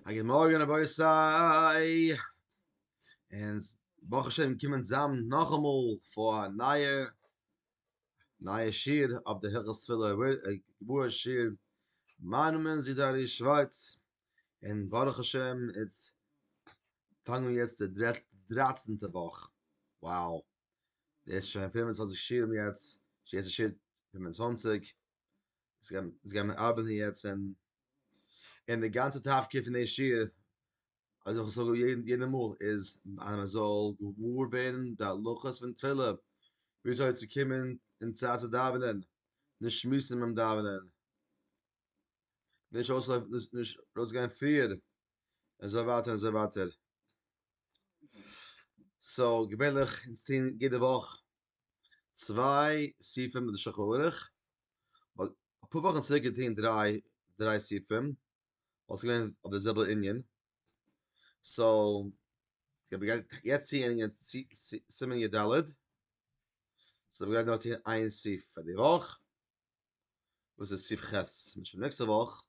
א גוט מארגן רבותי, אונז ברוך השם קומען צוזאם נאכאמאל פאר א נייע נייע שיעור אויף די הלכות תפילה גמרא שיעור מיין נאמען איז ארי שווארץ און ברוך השם אונז פאנגן אן יעצט די דרייצענטע וואך, wow, דאס איז שוין פֿינף און צוואַנציק שיעורים יעצט, יעצט איז שיעור פֿינף און צוואַנציק, יעצט גייען מיר ארבעטן יעצט און און די גאנצע תפקיד פון די שיעור אזוי ווי איך זאג יעדע מאל איז אז מען זאל געוואר ווערן די הלכות פון תפילה וויאזוי צו קומען אין צייט צו דאווענען נישט שמועסן ביים דאווענען נישט אויסלויפן נישט ארויסגיין פריער און אזוי ווייטער און אזוי ווייטער סאו געווענליך אונז טוהן יעדע וואך צוויי סעיפים מיט די שולחן ערוך, ווייל אפאר וואכן צוריק געטון דריי דריי סעיפים, וואלט עס געווען אויף די זעלבע ענין, סאו איך בין גרייט יעצט צו ענדיגן סימן י ד, סאו איך בין גרייט נאר טון איין סעיף פאר די וואך. וואס איז סי' ח', און שוין נעקסטע וואך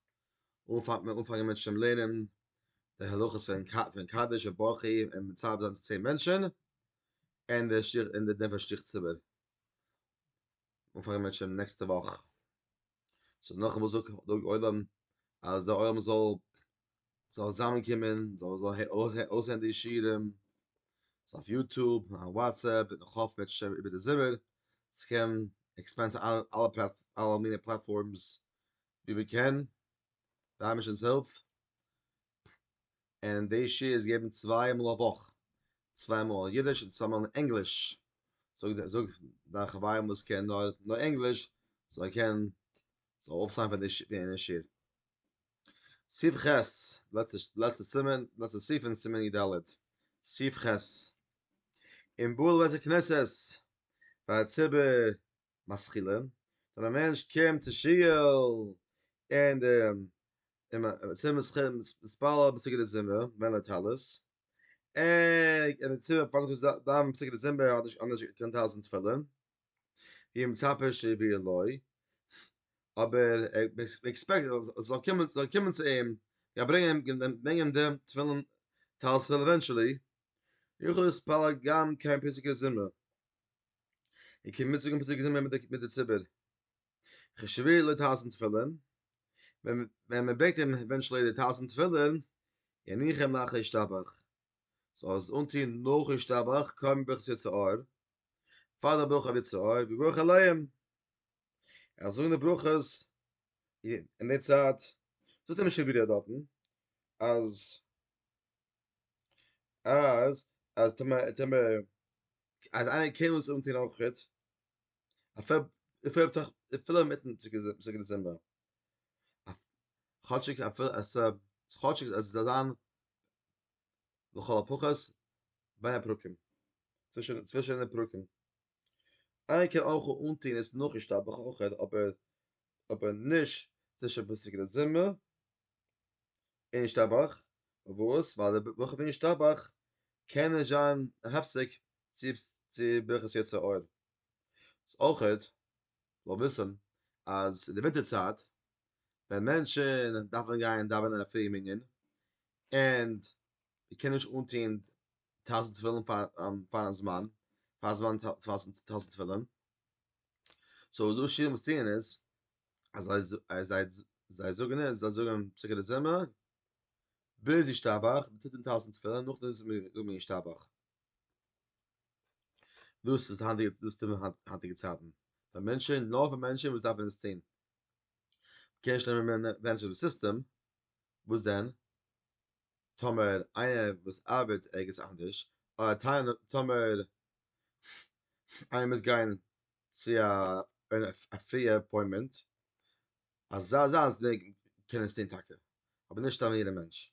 אנפאנגט מען אנפאנגען מיט שוין לערנען די הלכות פון פון קדש און ברכי און מצוה זיין צו צען מענטשען און די שטריך און די דין פון שליח ציבור אנפאנגען מיט שוין נעקסטע וואך סאו נאכן וואס זאגט דאג עולם אז די עולם זאל זאל זאמען קומען זאל זאל אויסהערן די שירים סאו אויף יוטוב און וואטסעפפ און איך האף מען וועט נישט איבער די זומער צו קען עקספענסן אלע אלע פלאט אלע מיני פלאטפארמס ווי מען קען די אייבערשטנ'ס הילף און די שיעור איז געבן צוויי מאל א וואך צוויי מאל אידיש און צוויי מאל אין ענגליש זאג זאג דיין חברים וואס קען נאר נאר ענגליש זאל ער קען זאל אויפסיין פון די שיעור סעיף ח', לעצטע סימן, לעצטע סעיף אין סימן י ד, סעיף ח', אין בויען בתי כנסת פאר ציבור משכילים, ווען א מענטש קומט צו שוהל אין די ציבור משכילים מתפלל די פסוקי דזמרה מען די טלית, ער און די ציבור פאנגט אן צו דיינען פסוקי דזמרה האט נישט קיין טלית און תפילין. ווי מצפה שיביא לוי, אבער ער עקספעקט אז עס זאל קומען זאל קומען צו אים, גייט ברענגען ברענגען די תפילין טלית עווענטשעלי, איך עס פאר א גמ' קיין פסוקי זמרה, און קומט מיטזאגן פסוקי זמרה מיט מיט די ציבור, איך שיביא לוי טלית און תפילין, ווען ווען מען ברענגט אים עווענטשעלי די טלית און תפילין, יניחם לאחר ישתבח, זאל ער עס אנטוהן נאך ישתבח, קוים ביך ס'צו אור, פאר דער ברכה אבי צהר וברך עליהם ער זאל זאגן די ברכות אין די צייט זאגט אים שפירא דארטן אז אז אז טאמער טאמער אז איינער קען אונז אנטוהן אויך גוט אפילו אפילו אינמיטן פסוקי דצמבר כאטשיג אפילו אז כאטשיג אז עס זאל זיין לכל הפחות בין הפרקים, צווישן די פרקים. איינער קען אויך אנטוהן עס נאכן שטאבעך אויכעט אבער אבער נישט צווישן פסוק לזמר און שטאבעך, פארוואס? ווייל די ברכות פון שטאבעך קען נישט זיין א הפסק צו ברכת יצר אור. אויכעט זאל וויסן אז אין די ווינטער צייט ווען מענטשן דארפן גיין דאווענען א פרי מנין ענד מען קען נישט אנטוהן טויזענט תפילין פארן זמן, פאר זמן טויזענט תפילין, סאו וואס די עשירים וואס טוען איז, אז זיי זיי זיי זאגן איז, זיי זאגן פסוקי דזמרה ביז ישתבח, מען טוט אן טויזענט תפילין נאכדעם זאגט מען ישתבח, דאס איז היינטיגע דאס טוט מען היינטיגע צייטן, פאר מענטשען נאר פאר מענטשען וואס דארפן עס טוהן, קעשט נעמען מענעדזשער די סיסטעם, וואס דען טאמער איינער וואס ארבעט ערגעץ אנדערש, אדער טאמער טאמער איינער מוז גיין צו א א פריע אפוינטמענט, אזא זאנס קען עס טון טאקע, אבער נישט א יעדע מענטש.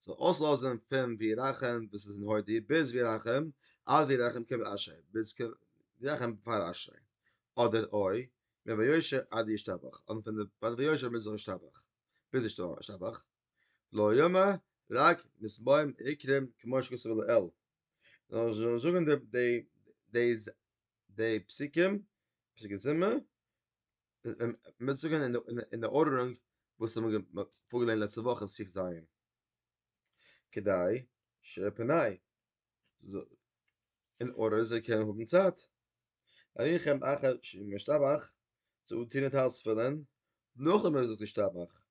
זאל אויסלאזען פון וירחם וואס איז אין הודי ביז וירחם עד וירחם קב אשרי ביז קב וירחם פאר אשרי אדער אוי מען ויושר עד ישתבח אדער פון די פאר ויושר ביז ישתבח ביז ישתבח לא יאמר רק מסמוים עיקרים כמו שכתוב לעיל זאל זאגען די די די פסוקים פסוקי זמר. מ'וועט זאגן אין די ארדערונג וואס האבן מיר פארגעליינט לעצטע וואך אין סעיף ז'. כדי שפני אין ארדער זיי קענען האבן צייט. אריכם אחר שאם ישתבח צו אנטוהן די טייל תפילין נאכדעם ווען ער זאגט ישתבח.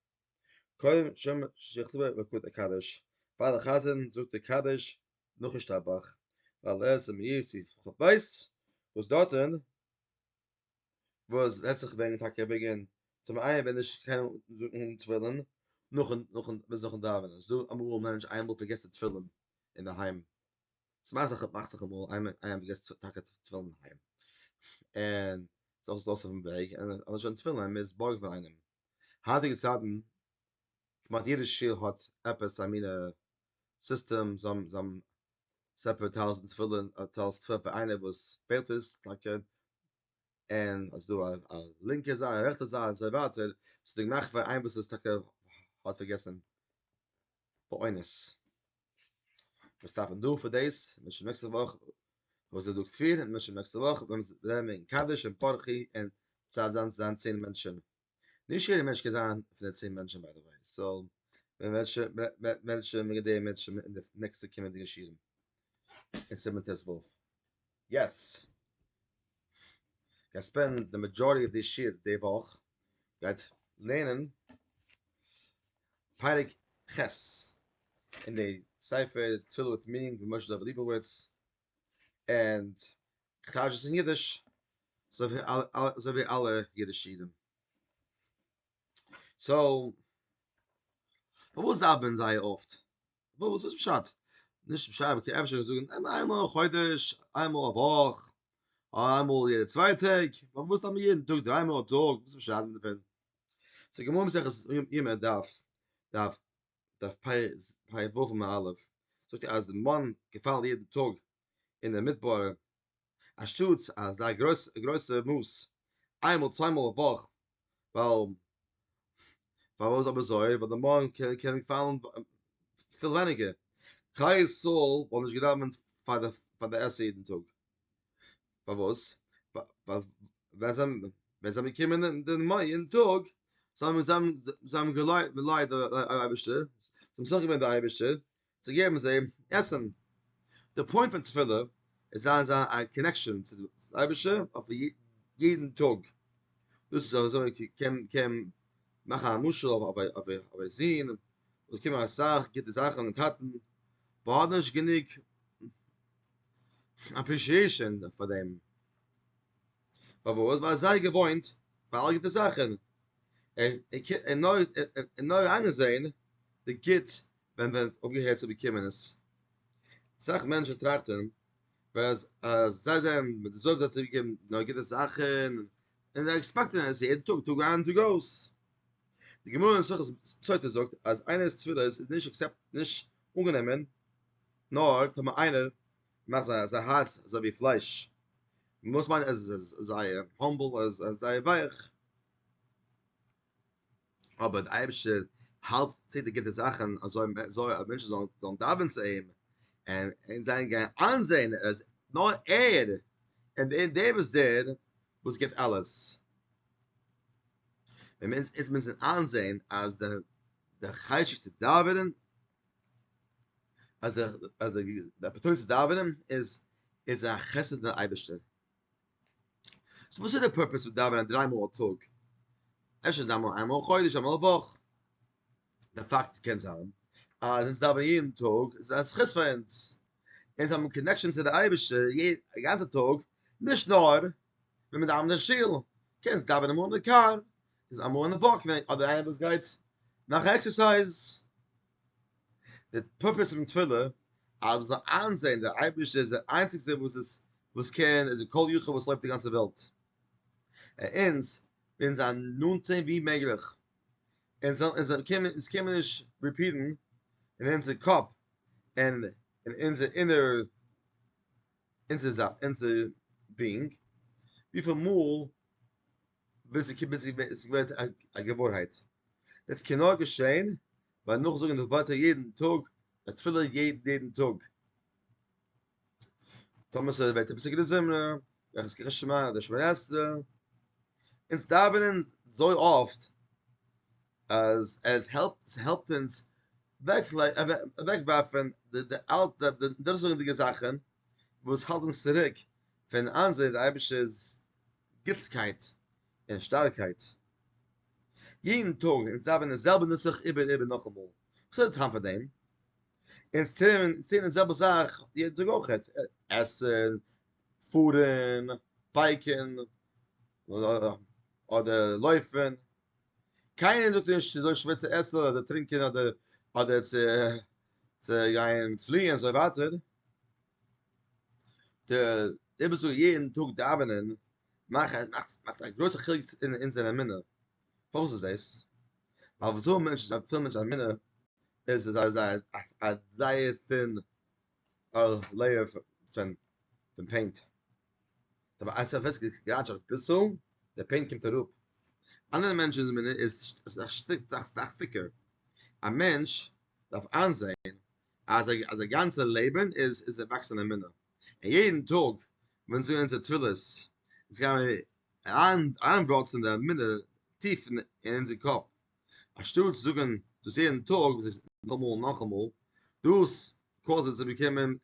קודם שם שיכתוב ברכות הקדש פאר די חזן זאגט ער קדיש נאך ישתבח. ווייל עס איז מאיר סעיף ח ב וואס דארטן וואס וועט זיך וועגן טאקע ערביגען טאמער איינער וועט נישט קיינמאל זאגן אן תפילין נאכן נאכן ביז נאכן דאווענען ס'דא אמאל מענטש איינמאל פארגעסט ער תפילין אינדערהיים ס'מאכט זיך מאכט זיך אמאל איינמאל איינער פארגעסט טאקע תפילין אינדערהיים און זאל עס לאזן אויפן וועג און ער האט נישט אן תפילין מ'מוז בארגן פון איינעם היינטיגע צייטן כמעט יעדע שול האט עפעס א מינע סיסטעם זיי האבן זיי האבן ספר טלית און תפילין, אדער טלית און תפילין פאר איינער וואס פעלט עס טאקע, און אז דא א א לינקע זייט א רעכטע זייט אזוי ווייטער, ס'איז דא געמאכט פאר איינער וואס איז טאקע האט פארגעסן באונס. מיר סטאפן דא פאר דאס, מ'שמעקט נעקסטע וואך וואס איז דא כפיר, און מ'שמעקט נעקסטע וואך ווען מ'איז ווערן אין קדש און פרחי און צייט זיין צו זיין צען מענטשן. נישט יעדער מענטש קען זיין פון די צען מענטשן ביי די וועי, סאו ווען וועט מענטשן מעגן דעי מענטשן אין די נעקסטע קומענדיגע שיעורים אין סימן ט ו. יעצט גיי ספענד די מעדזשארעטי אוו די שיעור די וואך גייט לערנען פרק ח' אין די ספר תפילות מיטינג מיט משה דוב ליבוביץ ענד כ'טייטש עס אין אידיש, אזוי ווי אלע אידישע אידן. סאו, פארוואס דארף מען זייער אפט? וואס איז פשט? נישט פשט, אבער קען אפשר זאגן איינמאל א חודש, איינמאל א וואך, איינמאל יעדע צוויי טעג, פארוואס דארף מען יעדן טאג, דריי מאל א טאג, וואס איז פשט מיט דעם? ס'איז גמרא מסכת יומא דף דף פ ו עמוד א', זאגט אז די מאן געפאלן יעדן טאג אין די מדבר, אנשטאטס אזא גרויסע מאס איינמאל צוויי מאל א וואך, ווייל פארוואס אבער אזוי? ווייל די מאן קען פאלן פיל ווייניגער, כלל ישראל וואלט נישט געדאווענט פאר די עשר יעדן טאג, פארוואס? ווייל זיי זענען געקומען אין די מאן יעדן טאג, זיי האבן געליידט די אייבערשטער, זיי האבן מסכים געווען די אייבערשטער, צו געבן זיי עסן. די פוינט פון תפילה איז זיין אזא א קאנעקשאן צו די אייבישטער אויף יעדן טאג, דאס איז אזוי קען קען מאכן א משל אויף א זון וואס קומען אסאך גוטע זאכן פון טאטן באט האט נישט גענוג אפרישיעשאן פאר דעם, פארוואס? ווייל ער איז זייער געוואוינט פאר אלע גוטע זאכן, ער נאר איינגעזען די גוט ווען ווען אויפגעהערט צו באקומען עס. אסאך מענטשן טראכטן אז אז זיי זענען מיט די זויף זיי צוגעגעבן נאר גוטע זאכן, און זיי עקספעקטן עס יעדן טאג, טאג איין טאג אויס. די גמרא אין מסכת סוטה זאגט אז איינער'ס תפילות איז נישט אקסעפט נישט אנגענומען נאר טאמער איינער מאכט זיי זיי הארץ אזוי ווי פלייש, וואס מיינט אז עס איז זייער האמבל, עס איז זייער ווייך. אבער דער אייבערשטער האלט צו די גוטע זאכן אזוי אז מענטשן זאלן דאווען צו אים און זיי גייען איינזען אז נאר ער איז דער וואס דער וואס גיט אלעס, ווען מיר איז מיר זענען איינזען אז די די חשק צו דאווענען אז די אז די אפערטוניטי צו דאווענען איז איז א חסד פון אייבערשטער סאו וואס איז די פורפעס פון דאווענען דריי מאל א טאג? אפשר איז אמאל איינמאל א חודש אמאל א וואך. די פאקט קען זיין אז אונז דאווענען יעדן טאג איז א זכות פאר אונז, אונז האבן קאנעקשאן צו די אייבערשטער די גאנצע טאג, נישט נאר ווען מען דאווענט אין שול, קענסט דאווענען אמאל אין די קאר, איז אמאל אין א וואק אדער איינער וואס גייט מאכן עקסערסייז. די פורפעס פון תפילה אז מען זאל איינזעהן דער אייבערשטער איז דער איינציגסטער וואס איז וואס קען איז די כל יכול וואס לויפט די גאנצע וועלט און אונז ווילן זיין נאנט צו אים ווי מעגליך אונז זאל אונז קען מען אונז קען מען נישט ריפיעטן אין אונזער קאפ און אין אונזער אינער אונזער זיין אונזער בינג וויפיל מאל ביז איך ביז איך איז געווען א געוואוינהייט דאס קען נאר געשען ביי נאכזאגן די ווערטער יעדן טאג די תפילה יעדן טאג טאמער ס'איז ווערט די פסוקי דזמרה וועלכע ס'קען געשמע די שמונה עשרה אונז דאווענען זוי אפט אז עס העלפט ס'העלפט אונז אוועקווארפן די אלטע די דאזיגע זאכן וואס האלט אונז צוריק פון איינזען די אייבערשטער'ס גוטסקייט און שטארקייט יעדן טאג אונז דאווענען די זעלבע נוסח איבער און איבער נאכאמאל וואס איז די טעם פאר דעם? אונז טוען די זעלבע זאך יעדן טאג אויך עסן, פארן, בייקן אדער לויפן, קיינער זאגט נישט ס'איז אזוי שווער צו עסן אדער טרינקען אדער צו גיין פליען און אזוי ווייטער, די וואס זאגן יעדן טאג דאווענען מאכט א גרויסע חילוק אין זייער אמונה, פארוואס איז דאס? ווייל וואס זאגן מענטשן זיי האבן פיל מענטשן אמונה איז עס א זייער טין לעיער פון פעינט, אבער אז עפעס גראטשעט אביסל די פעינט קומט אראפ, אנדערע מענטשן'ס אמונה איז א שטיק א סטיק דיקער, א מענטש דארף איינזען אז אז די גאנצע לעבען איז איז א וואקסען אמונה אין יעדן טאג ווען זיי אונזער תפילות איז גייען אריין אריינוואקסען די אמונה טיף אין אונזער קאפ אנשטאט צו זאגען דאס יעדן טאג נאכאמאל נאכאמאל דאס קאוזט צו באקומען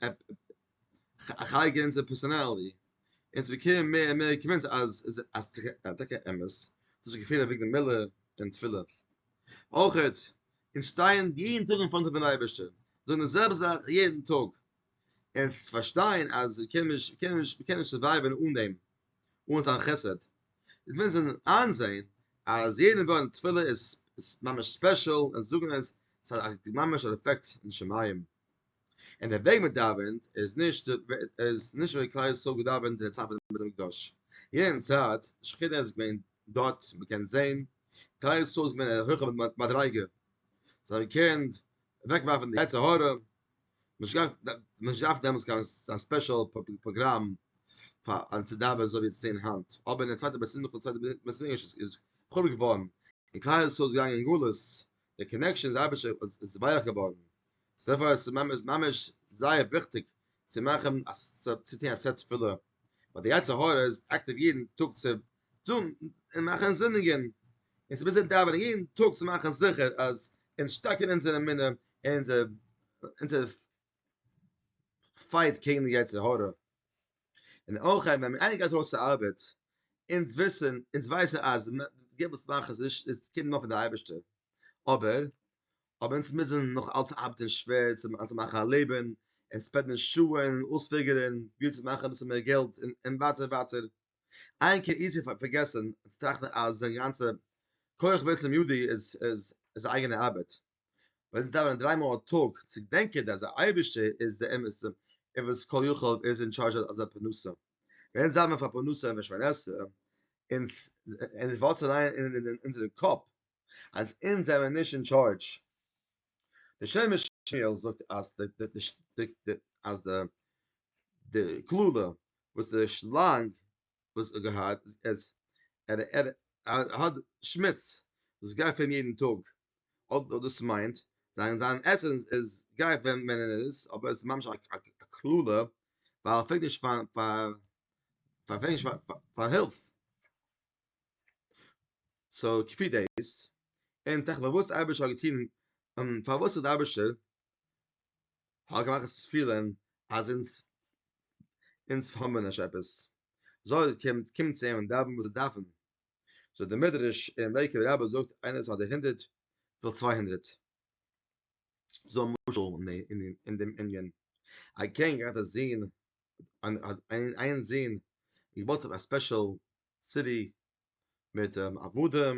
חי גענצער פערסאנאלי, אונז באקומען מער און מער קאמענטס אז אז ס'איז טאקע אמת, דאס געפיל אויף וויגן מילה און תפילה. אויך אונז שטייען יעדן טאג אין פארנט פון אייבערשטער, זאגן די זעלבע זאך יעדן טאג, אונז פארשטייען אז מיר קענען נישט מיר קענען נישט מיר קענען נישט סורווייווען אן דעם, אן זיין חסד, אונז מוזן איינזען אז יעדן ווארט אין תפילה איז ממש ספעשל, אונז זאגן עס, ס'האט ממש אן עפעקט אין שמים. און דער וועג מען דאווענט איז נישט איז נישט ווי כלל ישראל האט געדאווענט אין צייט פון בית המקדש יענע צייט די שכינה איז געווען דארט מען קען זען כלל ישראל איז געווען א הויכע מדריגה זיי האבן געקענט אוועקווארפן די יצר הרע נישט געהאט נישט געדארפט דעמאלטס קיין א ספעשל פראגראם פאר אן צו דאווענען אזוי ווי עס זעהן היינט אבער אין די צווייטע בית המקדש איז חרוב געווארן און כלל ישראל איז געגאנגען אין גלות די קאנעקשאן איז אייביג איז ווייעך געווארן, סאו דערפאר איז עס ממש זייער וויכטיג צו מאכן צו טון א סעט תפילה, ווייל די יצר הרע איז אקטיוו יעדן טאג צו טון און מאכן זינדיגן, און ס'איז ביז דאווענען יעדן טאג צו מאכן זיכער אז אונז שטארקן אונזער אמונה און אונזער אונזער פייט קעגן די יצר הרע. און אויך ווען מען אייניגט ארויס די ארבעט, אונז וויסן, אונז ווייסן אז די וואס מאכן עס נישט, עס קומט נאר פון די אייבערשטער, אבער אבער אונז מוזן נאך אלץ ארבעטן שווער צו צו מאכן א לעבן, און ספענדן שעות און אויספיגערן ווי צו מאכן אביסל מער געלט, און און ווייטער ווייטער. איין קען איזי פארגעסן און צוטראכטן אז זיין גאנצע כח ועוצם ידי איז איז איז אייגענע ארבעט. ווען זיי דאווענען דריי מאל א טאג צו געדענקען אז דער אייבערשטער איז דער אמת'ער און וואס כל יכול און איז אין טשארזש אויף זייער פרנסה ווען זיי האבן פאר פרנסה און פרנסה און און וואס זיי ליינען אין אין אונזערע קאפ אז אונז זענען נישט אין טשארזש דער שם משמואל זאגט אז די די די די אז די די קללה וואס די שלאנג וואס ער געהאט עס ער ער האט שמוץ וואס גייט פאר אים יעדן טאג אט וואס דאס מיינט זיין זיין עסענס איז גייט ווען ווען ער איז אבער עס איז ממש א א קללה ווייל ער פרעגט נישט פאר פאר פאר פרעגט נישט פאר פאר הילף סאו כפי דעיס און תיכף פארוואס אייבערשטער האט געטוהן פארוואס האט אייבערשטער האב געמאכט עס פילען אז אונז אונז האבן נישט עפעס זאל קומט קומט צו אים און דאווען וואס זיי דארפן זאגט די מדרש אין לעיקוואד רבי זאגט איינער וואס האט די הונדערט וויל צוויי הונדערט זאל משל אין אין דעם ענין א קענג האט א זון אן איין זון געבויט אויף א ספעשל סיטי מיט אוודעם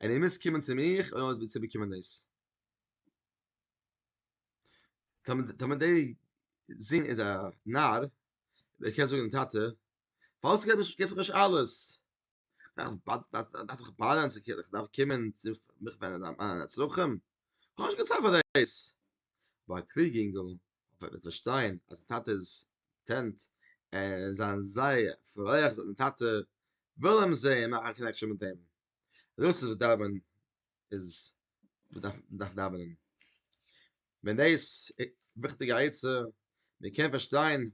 און איר מוזט קומען צו מיך אויב איר ווילט צובאקומען דאס. טאמער דער זון איז א נאר, ער קען זאגן דעם טאטע, פארוואס געבסטו מיר נישט אלעס? דארף איך באדערן צו קומען צו מיך ווענדן מיינע צרכים? כ'האב נישט קיין צייט פאר דאס. אבער א קלוגע אינגל אבער וועט פארשטיין אז זיין טאטע איז טענט און זיין זייער פרייליך זיין טאטע וויל אים זעהן מאכן א קאנעקשען מיט אים דאס איז וואס דאווענען איז מ'דארף מ'דארף דאווענען ווען דעיס וויכטיגע עצה מ'קען פארשטיין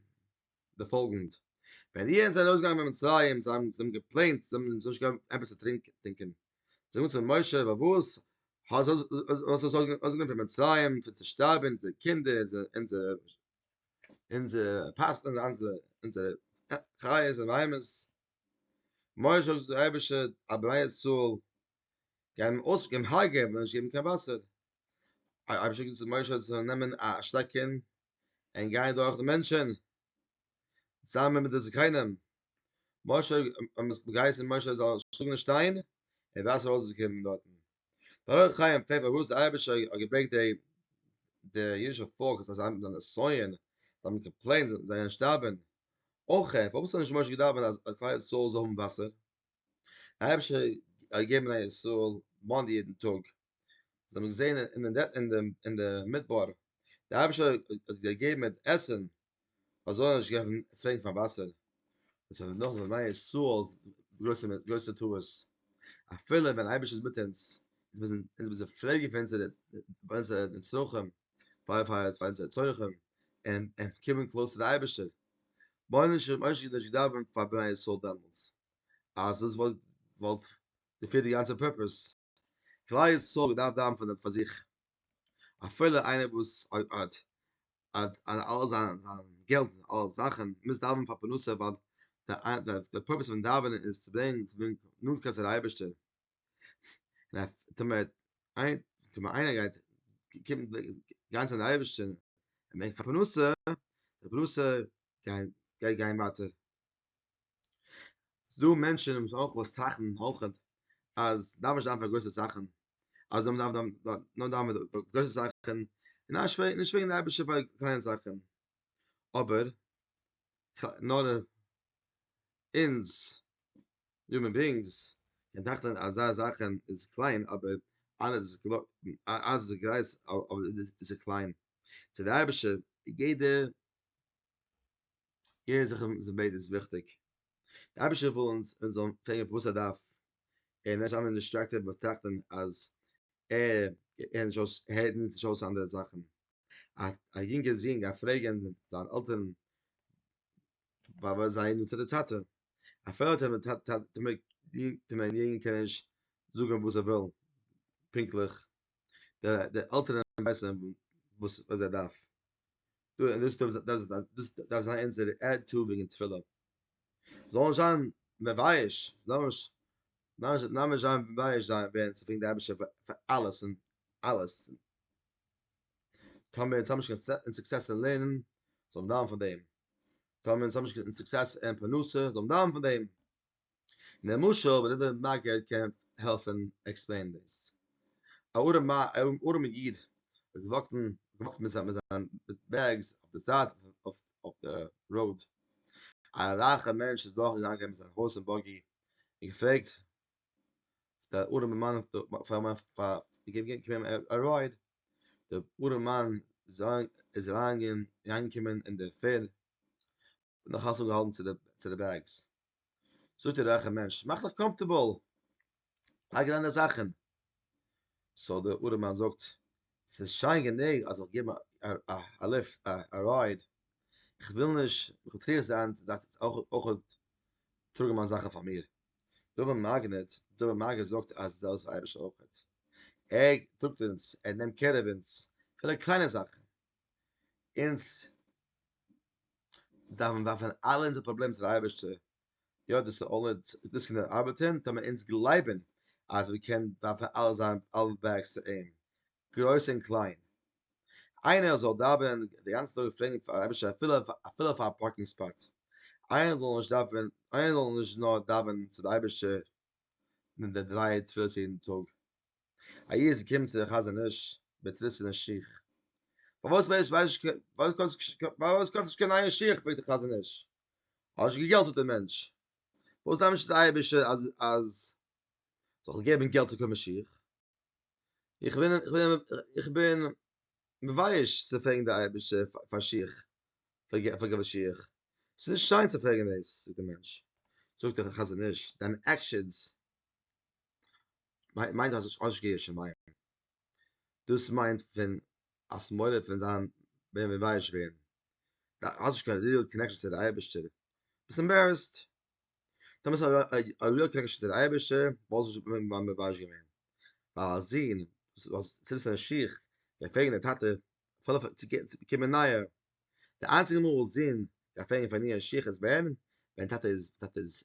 די פאלגענד, ווען איהר זענט ארויסגעגאנגען פון מצרים, זיי האבן געפלענט, זיי האבן נישט געהאט עפעס צו טרינקען, זיי האבן געזאגט צו משה, פארוואס האסטו אונז ארויסגענומען פון מצרים, פון צו שטארבען, אונזערע קינדער, אונזערע חיות און בהמות, משה האט געזאגט דער אייבערשטער, א בני ישראל גייען הונגערען, וועלן נישט געבן קיין וואסער, אייבערשטער האט געזאגט צו משה זיי זאלן נעמען א שטעקען, און גייען דורך די מענטשען צוזאמען מיט די זקנים משה האבן עס געהייסן משה זאל שלאגן די שטיין און וואסער זאל אויסקומען דארטן דער אור החיים פרעגט פארוואס דער אייבערשטער האט געברענגט די די אידישע פאלק אז זיי האבן נסיון זיי האבן קאמפלעינט זיי גייען שטארבן אויך פארוואס האט נישט משה געדאווענט אז כלל ישראל זאל האבן וואסער דער אייבערשטער האט געגעבן א ישראל מאן יעדן טאג זיי האבן געזען אין אין אין דעם אין דער מדבר דער אייבערשטער האט זיי געגעבן מיט עסן אז זאל נישט געבן פרעגן פאר וואסער דאס איז נאך וואס מיין ישראל גרויסע גרויסע טעות אפילו ווען אייבערשטער איז מיט אונז איז מיר זענען מיר זענען פרעגן פאר אונזערע פאר אונזערע נצרכים פאר פאר פאר אונזערע צרכים און און קומען קלאזט צו די אייבערשטער מויל נישט און מוישי נישט געדאווענט פאר בני ישראל דעמאלטס אז דאס וואלט וואלט געפירט די גאנצע פורפעס. כלל ישראל דארף דאווענען פאר דעם פאר זיך, אפילו איינער וואס האט האט אלעס זיין זיין געלט און אלע זאכן מוז דאווענען פאר פרנסה ווייל די די פורוועס פון דאווענען איז צו ברענגען צו ברענגען נאנטקייט צו די אייבערשטער, און טאמער טאמער איינער גייט קומען גיין צו די אייבערשטער און בענקט פאר פרנסה, די פרנסה גייט גיין ווייטער. ס'דא מענטשן וואס אויך וואס טראכטן אויך אז דארף נישט זיין פאר גרויסע זאכן, אז מען דארף נאר דאווענען פאר גרויסע זאכן, און נישט פרעגן די אייבערשטער פאר קליינע זאכן, אבער נאר אונז יומען ביאינגס קען טראכטן אז אזא זאך איז קליין אבער אלעס גרויס איז קליין, צו די אייבערשטער איז יעדע יעדער זאך וואס מען בעט איז וויכטיג. דער אייבערשטער וויל אונז אונז זאלן פרעגן פארוואס ער דארף, און נישט זיין דיסטרעקטעד מיט טראכטן אז ער הערט נישט אויס ער הערט אונז נישט אויס אנדערע זאכן. א א יונגער זון גייט פרעגן זיין עלטערן וואס זיי נוצן די צייט. אפילו האט ער מיט טאטע טאמער טאמער יענקער קען ער נישט זאגן וואס ער וויל פונקטליך. דער דער אלטער רביסע וואס וואס ער דארף דו דאס דאס דאס דאס דאס זיין אונזער עד טו וועגן תפילה זאל זיין מבייש נאמש נאמש נאמש זיין מבייש זיין ווען צו פרעגן די אבישע פאר אלעס און אלעס טאמער אונז האבן נישט קיין סוקסעס אין לערנען זאל מען דאווענען פאר דעם טאמער אונז האבן נישט קיין סוקסעס אין פרנסה זאל מען דאווענען פאר דעם למשל ווען איבער מגד קען העלפן עקספלעינען דאס. א ארעמע איד איז געוואקט מיט זיין בעגס אויף די זייט אויף די ראוד, א רייכע מענטש איז דורך געגאנגען מיט זיין הארס ענד באגי און געפרעגט די ארעמע מאן געבן אים א רייד, די ארעמע מאן איז אריינגעקומען אין די פערד און נאך אלס אנגעהאלטן צו די בעגס. זאגט דער רייכער מענטש, מאך דיך קאמפטערבאל, לייג אריין די זאכן. סאו דער ארעמאן זאגט, ס'איז שיין גענוג אז איך גיב א ליפט, א רייד, איך וויל נישט מטריח זיין צו דארפן אויך טראגן מיינע זאכן פאר מיר. דער אבן מגיד, דער אבן מגיד זאגט אז דאס איז דער אייבערשטער אויך, ער טראגט אונז, ער נעמט קער אויף אונז, אפילו קליינע זאכן. אונז דארפן ווארפן אלע אונזערע פראבלעמען צו די אייבערשטער, יא דאס איז אלע דאס קען ארבעטען טאמער אונז גלייבען אז מען קען ווארפן אלע זיין אלע בעגס צו אים, גרויס און קליין, איינער זאל דאווענען די גאנצע טאג און פרעגן פאר אייבערשטער אפילו אפילו פאר א פארקינג ספאט, איינער זאל נישט דאווענען איינער זאל נישט נאר דאווענען צו די אייבערשטער די דריי תפילות יעדן טאג. א איד איז געקומען צו דער חזון איש מיט צעריסענע שיך, פארוואס ווייסט נישט קיין פארוואס קויפסטו נישט פארוואס קויפסטו נישט קיין נייע שיך פרעגט דער חזון איש, האסט נישט קיין געלט זאגט דער מענטש, פארוואס דארף נישט דער אייבערשטער אז אז זאל געבן געלט צו קויפן שיך, איך בין איך בין איך בין מבייש צו פרעגן דער אייבערשטער פאר שיך פאר פאר געבן שיך, ס'איז נישט שיין צו פרעגן דאס זאגט דער מענטש, זאגט דער חזון איש, דיינע עקשענס מיינט אז עס אש געיר שמים דאס מיינט פון א שמאלער פון זיין ווען מען ווייס ווען דער אש קען ריעל קענעקשן צו די אייבערשטער ביסט עמבערעסט דער מיסט א ריעל קענעקשן צו די אייבערשטער וואלסט נישט געווען מיין מבייש געווען א זון וואס זיצט אין שיך גייט פרעגן די טאטע פאר צו באקומען נייע די איינציגע מאל זון גייט פרעגן פאר נייע שיך איז ווען ווען טאטע איז טאטע איז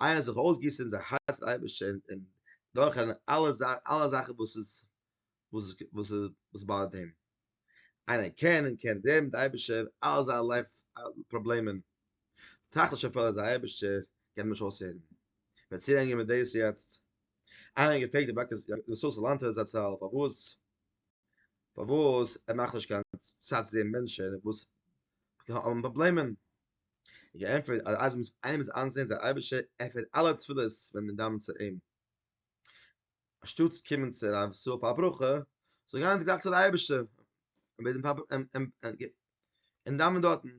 אייער זיך אויסגיסן אונזער הארץ צום אייבערשטן און דורכ'ן אלע אלע זאכן וואס איז וואס וואס וואס באדערט אים, איינער קען און קען רעדן מיט די אייבערשטער אלע זיינע לייף פראבלעמען, טראכט נישט אפילו אז די אייבערשטער קען אים נישט אויסהערן, וועט צולערנען מיט דאס יעצט, איינער האט געפרעגט רבי ישראל סאלאנטער זצל פארוואס פארוואס ער מאכט נישט קיין צייט צו זען מענטשען וואס האבן פראבלעמען, איך געענטפערט אז אז מ'איז איינעם איז איינזעהן אז דער אייבערשטער ענפערט אלע תפילות ווען מען דאווענט צו אים, אנשטאט צו קומען צו רב ישראל פאר א ברכה, זאל גיין גלייך צו די אייבערשטער און בעטן פאר און דאווען דארטן.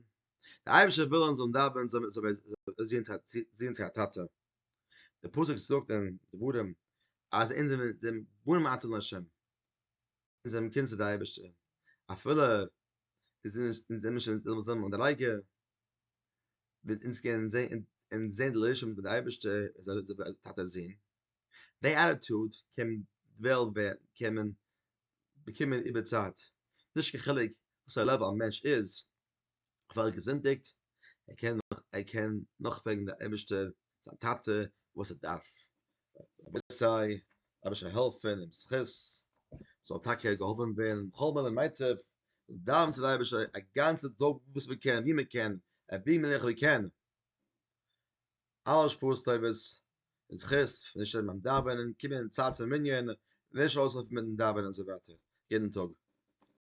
דער אייבערשטער וויל אונז זאלן דאווען זאל מיר זעהן צו א טאטע. דער פסוק זאגט אין דברים אז אונז זענען בנים אתן לה'. און זיי האבן געקענט צו די אייבערשטער אפילו און זיי האבן נישט געוואוסט זיין אן די לייגער וועט אונז קענען זעהן און זעהן די לוישען מיט די אייבערשטער אזוי טאטע זון די עטיטוד קען וועלן ווערן קען מען באקומען איבער צייט נישט קיין חילוק וואסארא לעוועל א מענטש איז. פאר געזינטיגט, ער קען נאך ער קען נאך בעגן די אייבערשטער זיין טאטע וואס ער דארף, רבי סיי רבי זאל העלפען אים זכות זאל טאקע געהאבען ווערן בכל מיני מצב, דאווען צו די אייבערשטער א גאנצע טאג וואס מען קען ווי מען קען ער ווי מען איך ווי קען, אלע שפעות טובות און זכות פון נישט שטערן ביים דאווענען, קומען אין צייט צום מנין, נישט אויסלויפן מיטן דאווענען און אזוי ווייטער יעדן טאג.